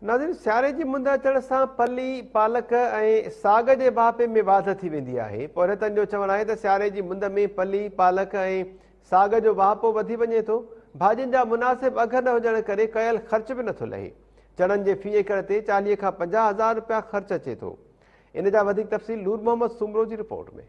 ناظرين سياري جي مند اچڻ سان ڦلي، پالڪ ۽ ساڳ جي واهپي ۾ واڌ ٿي ويندي آهي. پورهيتن جو چوڻ آهي ته سياري جي مند ۾ ڦلي، پالڪ ۽ ساڳ جو واهپو وڌي وڃي ٿو. ڀاڄين جا مناسب اگهه نه هجڻ ڪري ڪيل خرچ به نٿو لهي. چڻن جي في ايڪڙ تي چاليهه کان پنجاهه هزار رپيا خرچ اچي ٿو. ان جا وڌيڪ تفصيل نور محمد سومرو جي رپورٽ ۾.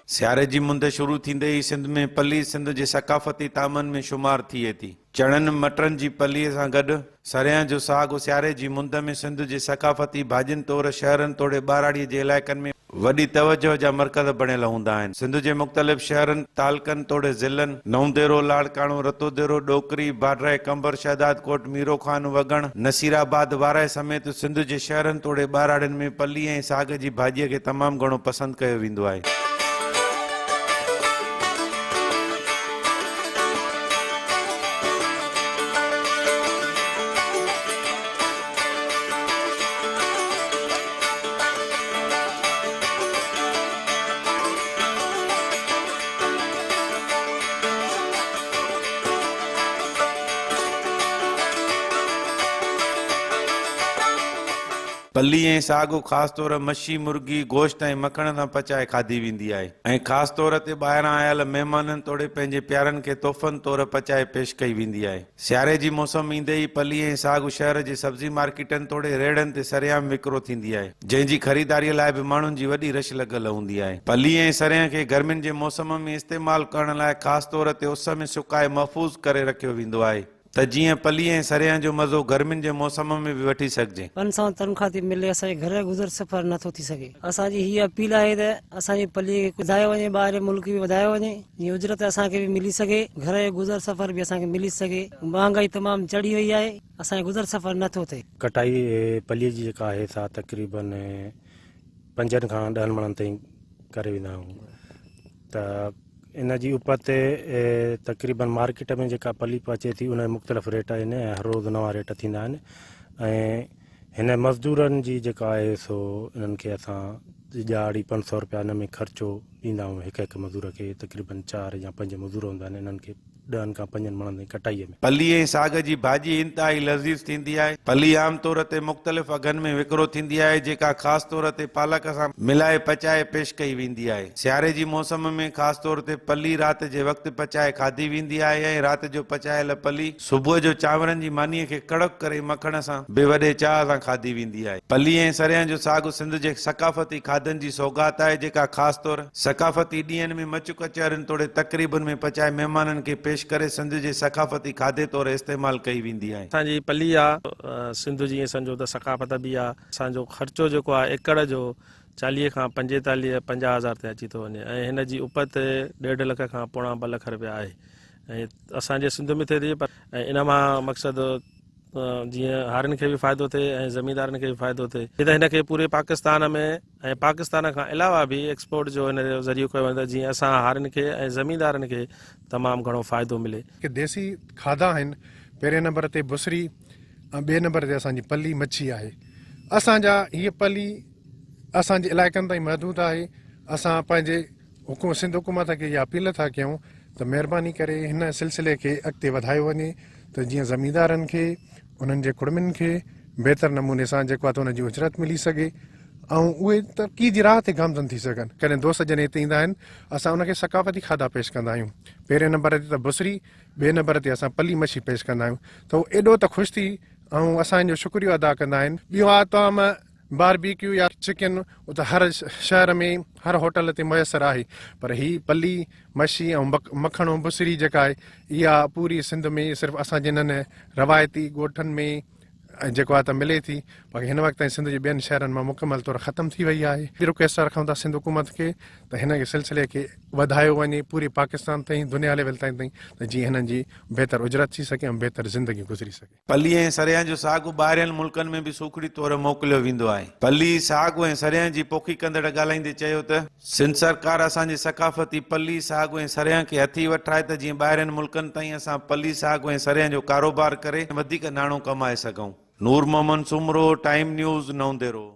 سياري جي مند شروع ٿيندي ئي سنڌ ۾ پلي سنڌ جي ثقافتي طعامن ۾ شمار ٿئي ٿي. چڻن مٽرن جي پلي سان گڏ سريان جو ساڳ سياري جي مند ۾ سنڌ جي ثقافتي ڀاڄين طور شهرن توڙي ٻهراڙيء جي علائقن ۾ وڏي توجهه جا مرڪز بڻيل هوندا آهن. سنڌ جي مختلف شهرن، تعلقن توڙي ضلعن، نئون ديرو، لاڙڪاڻو، رتو ديرو، ڏوڪري، باڊرائي قنبر، شهدادڪوٽ، ميرو خان، وڳڻ، نصير آباد، وارهه سميت سنڌ جي شهرن توڙي ٻهراڙين ۾ پلي ۽ ساڳ جي ڀاڄيء کي تمام گهڻو پسند ڪيو ويندو آهي. پلي ۽ ساڳو خاص طور مڇي، مرغي، گوشت ۽ مکڻ سان پچائي کاڌي ويندي آهي ۽ خاص طور تي ٻاهران آيل مهمانن توڙي پنهنجي پيارن کي تحفن طور پچائي پيش ڪئي ويندي آهي. سياري جي موسم ايندي ئي پلي ۽ ساڳ شهر جي سبزي مارڪيٽن توڙي ريڙهن تي سريان وڪرو ٿيندي آهي، جنهن جي خريداريء لاء به ماڻهن جي وڏي رش لڳل هوندي آهي. پلي ۽ سريان کي گرمين جي موسم ۾ استعمال ڪرڻ لاء خاص طور تي اس ۾ سڪائي محفوظ ڪري رکيو ويندو آهي ته جيئن پلي ۽ سريان جو مزو گرمين جي موسم ۾ به وٺي سگهجي. پنج سؤ تنخواهه ٿي ملي اسان جي گهر گذر سفر نه ٿو ٿي سگهي. اسان جي هيء اپيل آهي ته اسان جي پلي کي ڪجهه وڌايو وڃي ٻاهرين ملڪ به وڌايو وڃي. جيئن اجرت اسان کي به ملي سگهي، گهر جو گذر سفر به اسان کي ملي سگهي، مهانگائي تمام چڙهي وئي آهي، اسان جو گذر سفر نه ٿو ٿئي. کٽائي پليء جي جيڪا آهي سا تقريباً پنجن کان ڏهن مڻن تائين ڪري ويندا آهيون ته ان جي اپت تي تقريباً مارڪيٽ ۾ جيڪا پلي پهچي ٿي ان جا مختلف ريٽ آهن ۽ هر روز نوان ريٽ ٿيندا آهن ۽ هن مزدورن جي جيڪا آهي سو انهن کي اسان ڄاڙي پنج سؤ روپيا ان ۾ خرچو ڏيندا آهيون هڪ هڪ مزدور کي تقريبن چار يا پنج مزدور هوندا آهن انهن کي ڏهن کان پنجن مڻن تائين ڪٽائيء ۾. ڦلي ۽ ساڳ جي ڀاڄي انتهائي لذيذ ٿيندي آهي. ڦلي عام طور تي مختلف اگهن ۾ وڪرو ٿيندي آهي جيڪا خاص طور تي پالڪ سان ملائي پچائي پيش ڪئي ويندي آهي. سياري جي موسم ۾ خاص طور تي ڦلي رات جي وقت پچائي کاڌي ويندي آهي ۽ رات جو پچايل ڦلي صبح جو چانورن جي مانيء کي ڪڙڪ ڪري مکڻ سان به وڏي چاهه سان کاڌي ويندي آهي. پلي ۽ سريان جو ساڳ سنڌ جي ثقافتي کاڌن جي سوغات آهي، جيڪا خاص طور ثقافتي ڏينهن ۾ مچ ڪچهرين توڙي تقريبن ۾ پچائي مهمانن کي پيش ڪري سنڌ جي ثقافتي کاڌي طور استعمال ڪئي ويندي آهي. اسان جي پلي آ سنڌ جي ائين سمجهو ته ثقافت به آ. اسان جو خرچو جيڪو آهي ايڪڙ جو چاليهه کان پنجيتاليهه پنجاهه هزار تي اچي ٿو وڃي ۽ هن جي اپت ڏيڍ لک کان پوڻا ٻه لک رپيا آهي. اسان جي سنڌ ۾ ٿئي ٿي پر ان مان مقصد جيئن هارين کي به فائدو ٿئي ۽ زميندارن کي به فائدو ٿئي جي ته هن کي پوري پاڪستان ۾ ۽ پاڪستان کان علاوه به ايڪسپورٽ جو هن جو ذريعو ڪيو وڃي ته جيئن اسان هارين کي ۽ زميندارن کي تمام گهڻو فائدو ملي. جيڪي ديسي کاڌا آهن پهرين نمبر تي بصري ۽ ٻئي نمبر تي اسان جي پلي مڇي آهي اسان جا هيء پلي اسان جي علائقن تائين محدود آهي اسان پنهنجي حڪومت سنڌ حڪومت کي اها اپيل ٿا ڪيون ته مهرباني ڪري هن سلسلي کي اڳتي وڌايو وڃي ته جيئن زميندارن کي انهن جي ڪڙمين کي بهتر نموني سان جيڪو آهي ته ان جي اجرت ملي سگهي ۽ اهي ترقي جي راهه تي گامزن ٿي سگهن ڪڏهن دوست جڏهن هتي ايندا آهن اسان ان کي ثقافتي کاڌا پيش ڪندا آهيون پهرين نمبر تي ته بصري ٻئي نمبر تي اسان پلي مڇي پيش ڪندا آهيون ته اهو ايڏو ته خوش ٿي ۽ اسان جو شڪريو ادا ڪندا آهن ٻيو آهي طعام باربيڪيو يا چڪن ته هر شهر ۾ هر هوٽل تي ميسر آهي پر هي پلي مشي ۽ مکڻو بصري جيڪا آهي اها پوري سنڌ ۾ صرف اسان جي انهن روايتي ڳوٺن ۾ جيڪو آهي ته ملي ٿي باقي هن وقت تائين سنڌ جي ٻين شهرن مان مڪمل طور ختم ٿي وئي آهي رڪويسٽ رکون ٿا سنڌ حڪومت کي ته هن کي سلسلي کي وڌايو وڃي پوري پاڪستان تائين دنيا ليول تائين تائين ته جيئن هنن جي بهتر اجرت ٿي سگهي ۽ بهتر زندگي گذري سگهي پلي ۽ سريان جو ساڳو ٻاهرين ملڪن ۾ به سوکڙي طور موڪليو ويندو آهي. پلي، ساڳو ۽ سريان جي پوکي ڪندڙ ڳالهائيندي چيو ته. سنڌ سرڪار اسان جي ثقافتي پلي، ساڳو ۽ سريان کي هٿي وٺرائي ته جيئن ٻاهرين ملڪن تائين اسان پلي، ساڳو ۽ سريان جو ڪاروبار ڪري وڌيڪ ناڻو ڪمائي سگهون. نور محمد سومرو، ٽائيم نيوز، نئون ديرو.